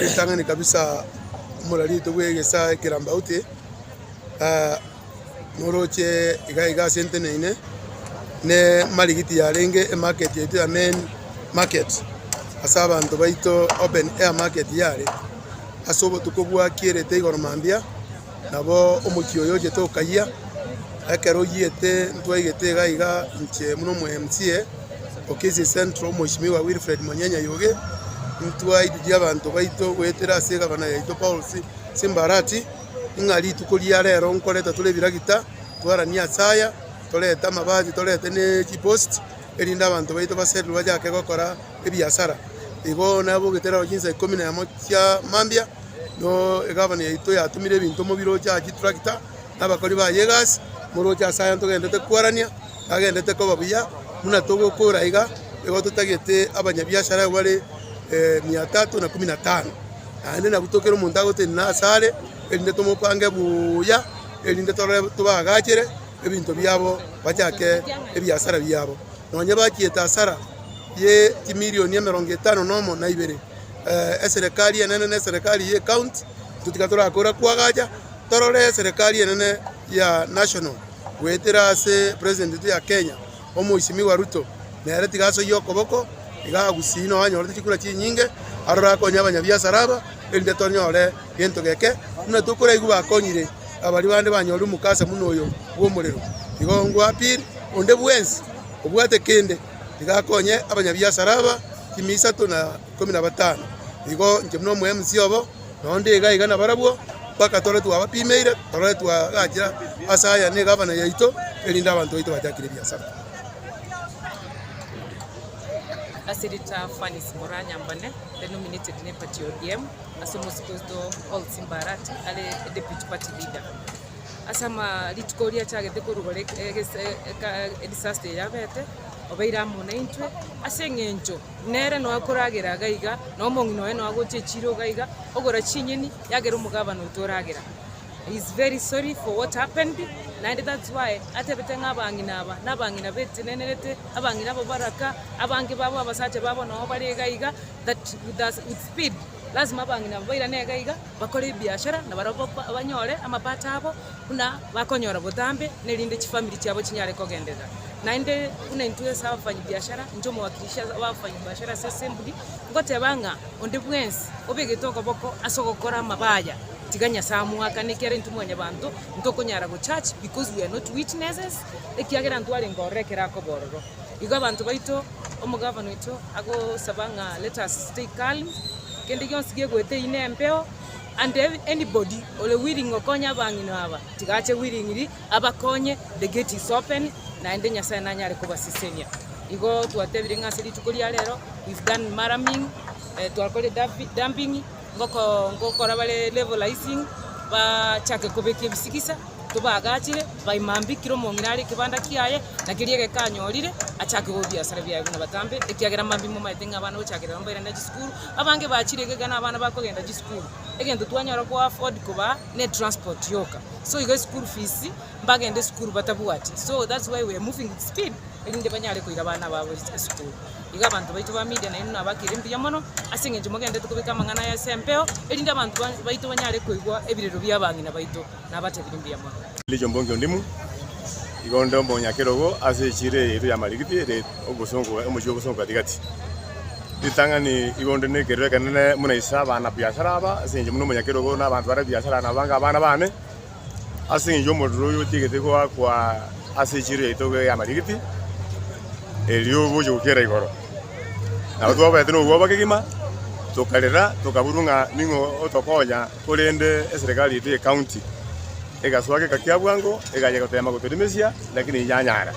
Ritang'ani kabisa omorariete bw'egesa ekerambauti noroche iga iga ase enteneine ne marigiti yarenge emarket yaito ya main market ase abanto baito open air market yare ase obotuko bwakierete igoro mambia. Nabo omochie oyo ochete okayia. Ekero oyiete ntwaigete iga iga inche buna omo MCA o Kisii Central Mweshimiwa Wilfred Monyenya Yugi, ntwaitirie abanto baito goetera ase egavana yaito Paul Simbarati, ng'a rituko ria rero nkoreta tore ebiragita twaranie ase aya, torete amabati torete ne chipost, erinde abanto baito basererwe bachake gokora. ebiasara. Igo nabogete rero chinsa ikomi na emo chia mambia, no egavana yaito yatumire ebinto mobiroche aa chiturakita, na abakori baye egasi, moroche ase aya ntogenderete koarania, nagenderete koba buya, buna togokora iga, nigo totagete abanyabiashara aba bare mia tatu na kumi na tano. Naende nabwo tokere omonto agotenena ase are, erinde tomopange buya, erinde torore tobaagachere ebinto biabo bachake ebiasara biabo. Nonye bachiete asara. ye chimilioni emerongo etano na omo na ibere, eserekari enene na eserekari ye county, totiga torakora kwagacha torore eserekari enene ya national goetera ase president yaito ya Kenya omoisimigwa Ruto, nere tiga asoyie okoboko iga agusii noo anyorete chikura chinyinge aroro akonye abanyabiasara aba erinde tonyore gento geke buna tokoraigwa bakonyire abari bande banyore omokasa buna oyo bw'omorero. Igo ngwa appeal onde bwensi obwate kende. nigo akonye abanyabiasara aba chimia isato na ikomi na batano. Igo inche buna omoemisi obo, nonya onde iga iga nabarabwo, mpaka tore twabapimeire, tore twagachire ase aya negavana yaito, erinde abanto baito bachakire ebiasara. Ase rita Fanice Moranyambane are nominated ne party ya ODM ase omosibwa oito Paul Simbarati are deputy party leader. Ase ama rituko oria achagete korugora edisaster eria abete, obeire amo naintwe, ase eng'encho nere noe okoragera iga iga, na omong'ina oye noe agocha echiro iga iga, ogora chinyeni yagera omogabane oito oragera. He is very sorry for what happened, naende that's why atebete ng'a abang'ina aba, na abang'ina batenenerete, abang'ina aba baraka, abange babo abasacha babo nabo bare iga iga, that with speed, lazima abang'ina aba bairane iga iga. bakore ebiashara na barabwo banyore amapato abo buna bakonyora botambe, na erinde chifamiri chiabo chinyare kogenderera. Naende buna intwe ase abafanyibiashara, inche omowakilishi bw'abafanyibiashara ase Assembly, ngoteba ng'a onde bwensi obegete okoboko ase ogokora amaba aya, tiga Nyasae amoakane ekiagera intwe mwanyabanto ntokonyara gochurch because we are not witnesses, ekiagera ntwarenge ororo ekero akoba ororo. Igo abanto baito omogabana oito agosaba ng'a let us stay calm, kende gionsi gegoeta eyio nembeo and anybody ore willing okonya abang'ina aba tiga ache willingly abakonye the gate is open naende Nyasaye nanyare kobasesenia. Igo twatebire ng'a ase rituko ria rero we've done maraming, twakorire dumping. ngoko- ngokora bare levelising, baachake kobeka ebisigisa, tobaagachire, baima mbi, kera omong'ina are ekebanda kiaye, na keria egeka anyorire, achake goba ebiasara biaye buna batambe, ekiagera mambia momaete ng'a abana gochakerera mbaire na chisukuru, abange bachire iga iga na abana bakogenda chisukuru, egento twanyara koafford kobaa, ne etransport yoka, so iga eschool fees. mbagende esukuru batabwati so that's why we are moving with speed erinde banyare koira abana babo esukuru. Iga abanto baito ba media nainwe nabakire mbuya mono ase eng'encho mogendererete kobeka amang'ana aya ase empeo erinde abanto baito banyare koigwa ebirero bia abang'ina baito. Nabatebire mbuya mono. Elijo Mbongi Ondimu, iga onde omonyakerogo ase echira eyio ya Marigiti ere obosongo omochie obosongo gati-gati. Ritang'ani iga onde nekerero ekenene buna ise abana biasara aba ase eng'encho buna omonyakerogo na abanto bare biasara nabo bange abana bane. Ase engencho omorero oyo otiegete goakwa ase echiro yaito y'amarigiti, erio oboche gokiera igoro. Nabo twabaete nobwoba kegima, tokarera, tokaburwa ng'a ning'o otokonya, korende eserekari yaito ye county egasoa geka kia bwango, egachia goteema gotorimisia, lakini enyanyara.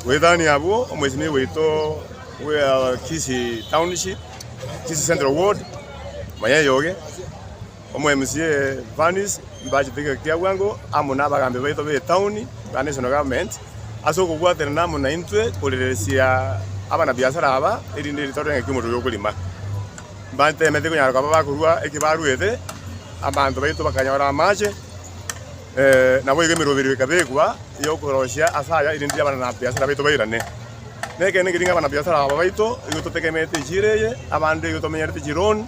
Goetania abwo, omoisimi waito bw'ea Kisii Township, Kisii Central Ward, Mayai Oge, Omwemusi e Vannes mbachete ekero kia bwango amo n'abagambi baito b'etauni na National Government ase okobwaterana amo naintwe korereresia abana-biasara aba erinde rituko ri'engaki omoto oria okorima. Mbateemete konyara koba bakorua eki baruete, abanto baito bakanyora amache, naboigo emeroberio ekabekwa y'okoroisia ase aya erinde abana-biasara baito bairane. Nekeene nkeri ng'a abana-biasara aba baito nigo totegemete echiro eye, abande nigo tomenyerete chiloan,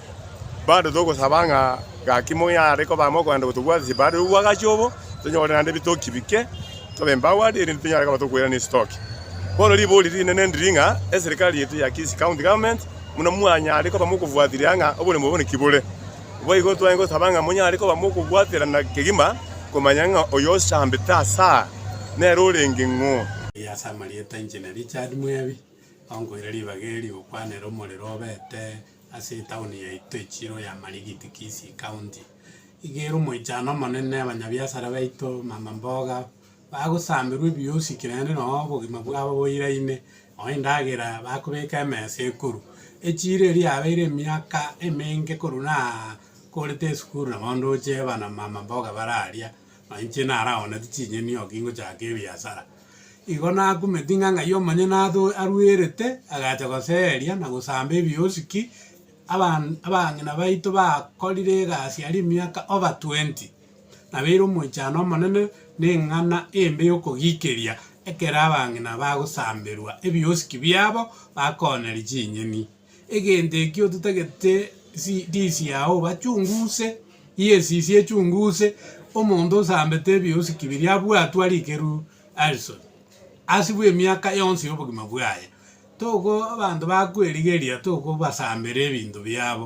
Bado togosaba ng'a gaki moyo are kobaa mokoenda gotobwata chibare rwo bwagachi obo, tonyore naende ebitoki bike, tobe mbagwati, erinde tonyare koba tokoirana esitoki. Bono riborio rinene ndiri ng'a eserikari yaito ya Kisii County Government buna mwanyare koba mokofuatilia ng'a oboremu obo naki bore. Naboigo twanye gosaba ng'a monyare koba mokobwaterana kegima komanya ng'a oyo osambete asaa nere orenge ng'o. Aye ase amarieta inche na Richard Mwebi, onkoira ribaga eri, gokwana ere omorero obete Ase etaoni yaito Echiro ya Marigiti, Kisii County, iga ere omoichano omonene, abanyabiasara baito, mama mboga, bagosamerwa ebiosikire naende noo obogima bwabo boiraine, noo endagera bakobeka emesa ekuru. Echiro eria yabeire emiaka emenge korwa nakorete esukuru nabo ndoche eba na mama mboga bararia. Nainche naraoneti chinyeni oo kingochaka ebiasara. Igo nakumeti ng'a ng'ai omonyene ato arwerete, agacha goseeria na gosamba ebiosiki, aban abang'ina baito bakorire egasi aria emiaka over twenty, nabeire omoichano omonene na eng'ana embe yokogikeria ekero abang'ina bagosamberwa ebiosiki biabo bakoonyeria chinyeni. Egento ekio totagete ndisi yao bachunguze, yes isi echunguze, omonto osambete ebiosiki biria abwatwe arikeru Alison ase bwe miaka yonsi yobogima bwaye. Toko abanto bakwerigeria tokobasambera ebinto biabo.